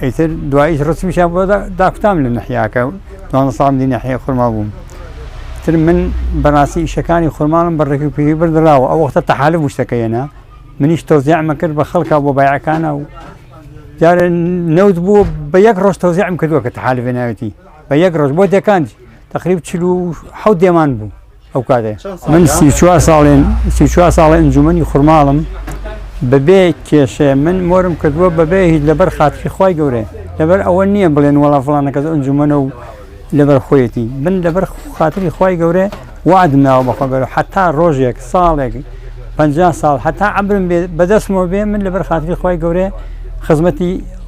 ئیتر دواییش ڕچووشیان بۆ داکوتام لە نەحیاکە و دوانزە ساڵم دی نەحیای خورماڵ بووم. تر من بەڕاستی ئیشەکانی خورماڵم بە ڕێک و پێکی بردراوە، ئەو وەختە تەحالف وشتەکە هێنا، منیش تەوزیعمە کرد بە خەڵکا بۆ بایعەکانا و جارێ نەوت بوو بە یەک ڕۆژ تەوزیعم کردووە کە تەحالف هێناوێتی بە یەک ڕۆژ بۆ دێکانج تەقریب چل و حەوت دێمان بوو. ئەو کاتێ من سی چوار ساڵین سی چوار ساڵی ئەنجومنی خورماڵم بەبێ کێشێ من مۆرم کردووە بەبێ هیچ لەبەر خاتری خی گەورێ لەبەر ئەوە نییە بڵێن وڵا فڵانەکە ئەنجومەنە و لەبەر خۆیەتی من لەبەر خاتری خی گەورێ وعدم ناوە بەخوا گەورە حتا ڕۆژێک ساڵێک پ ساڵ حتا عبرم بەدەستمەوە بێ من لەبەر خاتری خی گەورێ خزمەتی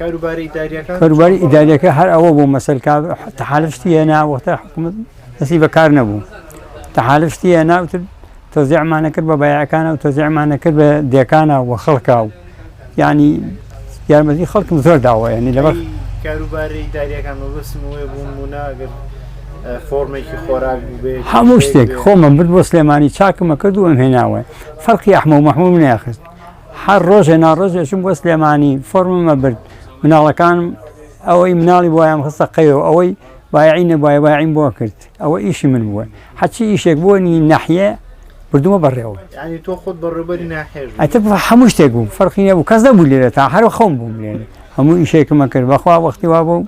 کاروبارە ئیداریەکان کاروباری ئیداریەکە هەر ئەوە بوو مەسەر تەحالشتی هێنا وەختە حکومت دەسی بەکار نەبوو تەحالشتی هێنا وتر تۆزیعمانە کرد بە بایەکانە و تۆزیعمانە کرد بە دێکانە و خەڵکا و ینی یارمەتی خەڵکم زۆر داوە ینی لەبەر کاروبارەی داریەکان مەبستم وێ بوون بووناگەر فۆرمێکی خۆراک بێ هەموو شتێک خۆمە برد بۆ سلێمانی چاکمە کرد و ئەم هێناوە فەرقی ئەحمە و مەحموم ناخست هەر ڕۆژێ ناڕۆژێ چووم بۆ سلێمانی فۆرمم ئەبرد مناڵەکانم ئەوەی مناڵی بۆیان خستە قەیەوە ئەوەی بایعی نەبای بایعیم بۆ کرد ئەوە ئیشی من بووە حەچی ئیشێک بوونی ناحیە بردووە بەڕێوە یعنی تۆ خۆت بەڕێوبەری ناحێژ بووی. ئەتە بە هەموو شتێک بووم فەرقی نەبوو کەس نەبوو لێرە تا هەرو خەوم بووم لێرە هەموو ئیشێکمە کرد بەخوا وەختی وا بوو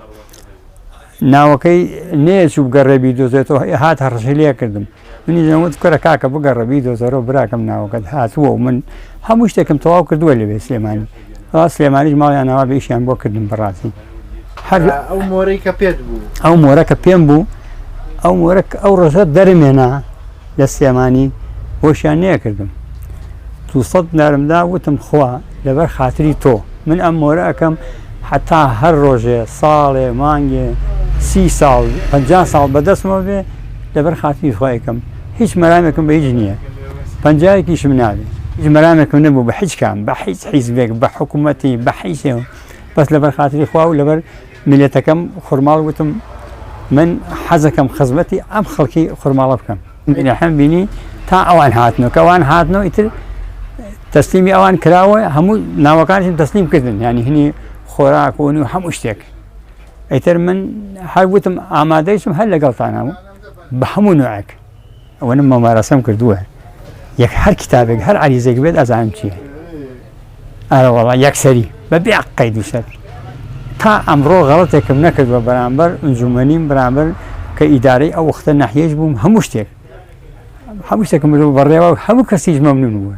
ناوەکەی نەیە چوو بگەڕێ بیدۆزێتەوە ئێ هات هەڕەشەی لێ کردم منی دەموت کورە کاکە بگەڕە بیدۆزەرەوە براکەم ناوەکەت هاتووە و من هەموو شتێکم تەواو کردووە لەوێ سلێمانی ڕا سلێمانیش ماڵیان ناوا بە ئیشیان بۆ کردم بەڕاستی هەر ئەو مۆرەی کە پێت بوو ئەو مۆرە کە پێم بوو ئەو مۆرە ئەو ڕۆژە دەرمێنا لە سلێمانی هۆشیان نەیەکردم دوو سەد دینارم دا وتم خوا لەبەر خاتری تۆ من ئەم مۆرە ئەکەم حتا هەر ڕۆژێ ساڵێ مانگێ سی ساڵ پ ساڵ بەدەستمەوە بێ لەبەر خاتری خوا یەکەم هیچ مەرامێکم بە هیچ نییە پنجایەکیشم نابێ هیچ مەرامێکم نەبوو بە هیچ کام بە هیچ حیزبێک بە حکوومەتی بە حیسێ بەس لەبەر خاتری خوا و لەبەر میلەتەکەم خورماڵ وتم من حەزەکەم خزمەتی ئەم خەڵکی خورماڵە بکەم منەحم بینی تا ئەوان هاتنەوە کە ئەوان هاتنەوە ئیتر تەسلیمی ئەوان کراوە هەموو ناوەکانشم تەسلیم کردن ینی هینی خۆراک و و هەموو شتێک ئیتر من هەر وتم ئامادەیشم هەر لەگەڵتانەوە بە هەموو نوعێک ئەوەنە مۆمارەسەم کردووە یەک هەر کتابێک هەر عریزێک بێت ئەزانم چیە ئارەوەڵا یەکسەری بە بێ قەید و شەر تا ئەمڕۆ غەڵەتێکم نەکردوە بەرامبەر ئەنجومەنیم بەرامبەر کە ئیدارەی ئەو وختە نەحیێش بووم هەموو شتێک هەموو شتێکم بەڕێوە هەموو کەسیش مەمنون بووە